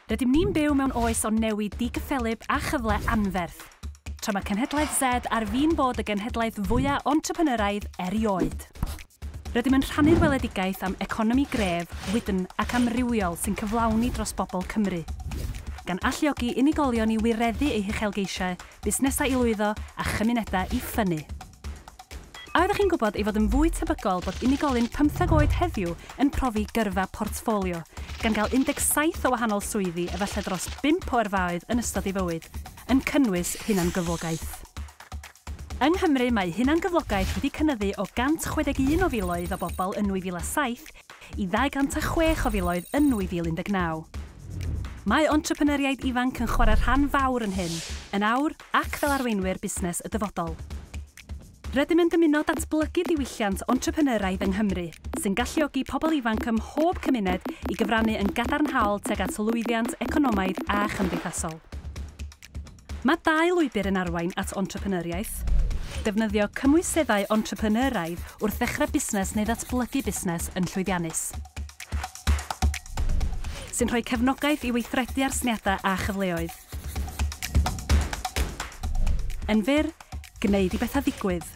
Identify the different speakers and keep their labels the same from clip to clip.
Speaker 1: Rydym ni'n byw mewn oes o newid digyffelyb a chyfle anferth. Tra mae Cenhedlaeth Z ar fin bod y genhedlaeth fwya' entrepreneuraidd erioed. Rydym yn rhannu'r weledigaeth am economi gref, wydn ac amrywiol sy'n cyflawni dros bobl Cymru. Gan alluogi unigolion i wireddu eu huchelgeisiau, busnesau i lwyddo a chymunedau i ffynnu. A oeddech chi'n gwybod ei fod yn fwy tebygol bod unigolyn pymtheg oed heddiw yn profi gyrfa portffolio, gan gael 17 o wahanol swyddi efallai dros bump o yrfaoedd yn ystod ei fywyd, yn cynnwys hunangyflogaeth? Yng Nghymru mae hunangyflogaeth wedi cynyddu o 161 o filoedd o bobl yn 2007 i 206 o filoedd yn 2019. Mae entrepreneuriaid ifanc yn chwarae rhan fawr yn hyn, yn awr ac fel arweinwyr busnes y dyfodol. Rydym yn dymuno datblygu diwylliant entrepreneuraidd yng Nghymru, sy'n galluogi pobl ifanc ym mhob cymuned i gyfrannu yn gadarnhaol tuag at lwyddiant economaidd a chymdeithasol. Mae dau lwybr yn arwain at entrepreneuriaeth, defnyddio cymwyseddau entrepreneuraidd wrth ddechrau busnes neu ddatblygu busnes yn llwyddiannus, sy'n rhoi cefnogaeth i weithredu ar syniadau a chyfleoedd. Yn fyr, gwneud i bethau ddigwydd.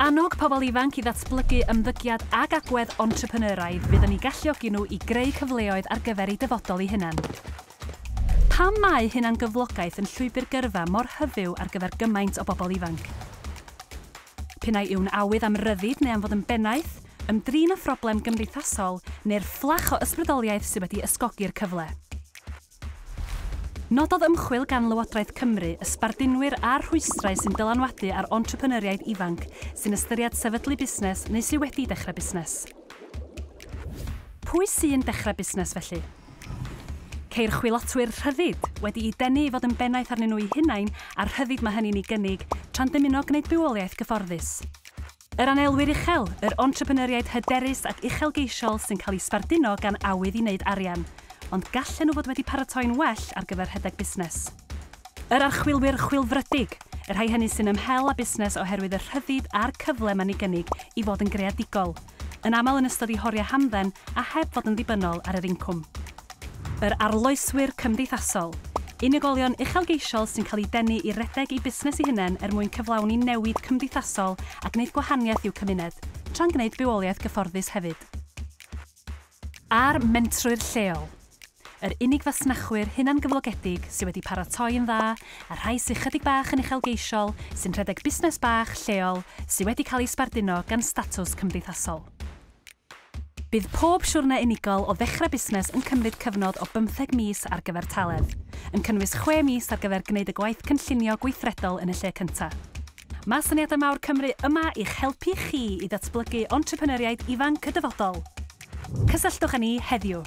Speaker 1: Annog pobl ifanc i ddatblygu ymddygiad ag agwedd entrepreneuraidd fydd yn eu galluogi nhw i greu cyfleoedd ar gyfer eu dyfodol eu hunain. Pam mae hunangyflogaeth yn llwybr gyrfa mor hyfyw ar gyfer gymaint o bobl ifanc? P'un ai yw'n awydd am ryddid neu am fod yn bennaeth, ymdrin â phroblem gymdeithasol neu'r fflach o ysbrydoliaeth sydd wedi ysgogi'r cyfle. Nododd ymchwil gan Lywodraeth Cymru y sbardunwyr a'r rhwystrau sy'n dylanwadu ar entrepreneuriaid ifanc sy'n ystyried sefydlu busnes neu sy wedi dechrau busnes. Pwy sy'n dechrau busnes felly? Ceir chwilotwyr rhyddid wedi'u denu i fod yn bennaeth arnyn nhw'u hunain a'r rhyddid mae hynny'n ei gynnig tra'n dymuno gwneud bywoliaeth gyfforddus. Yr anelwyr uchel, yr entrepreneuriaid hyderus ac uchelgeisiol sy'n cael eu sbarduno gan awydd i wneud arian, ond gallen nhw fod wedi paratoi'n well ar gyfer rhedeg busnes. Yr archwilwyr chwilfrydig, y rhai hynny sy'n ymhel â busnes oherwydd y rhyddid a'r cyfle mae'n ei gynnig i fod yn greadigol, yn aml yn ystod eu horiau hamdden a heb fod yn ddibynnol ar yr incwm. Yr arloeswyr cymdeithasol, unigolion uchelgeisiol sy'n cael eu denu i redeg eu busnes eu hunain er mwyn cyflawni newid cymdeithasol a gwneud gwahaniaeth i'w cymuned, tra'n gwneud bywoliaeth gyfforddus hefyd. A'r mentrwyr lleol. Yr unig fasnachwyr hunangyflogedig sy wedi paratoi yn dda a rhai sy chydig bach yn uchelgeisiol sy'n rhedeg busnes bach lleol sy wedi cael ei sbarduno gan statws cymdeithasol. Bydd pob siwrne unigol o ddechrau busnes yn cymryd cyfnod o bymtheg mis ar gyfer taledd, yn cynnwys chwe mis ar gyfer gwneud y gwaith cynllunio gweithredol yn y lle cyntaf. Mae Syniadau Mawr Cymru yma i'ch helpu chi i ddatblygu entrepreneuriaid ifanc y dyfodol! Cysylltwch â ni heddiw!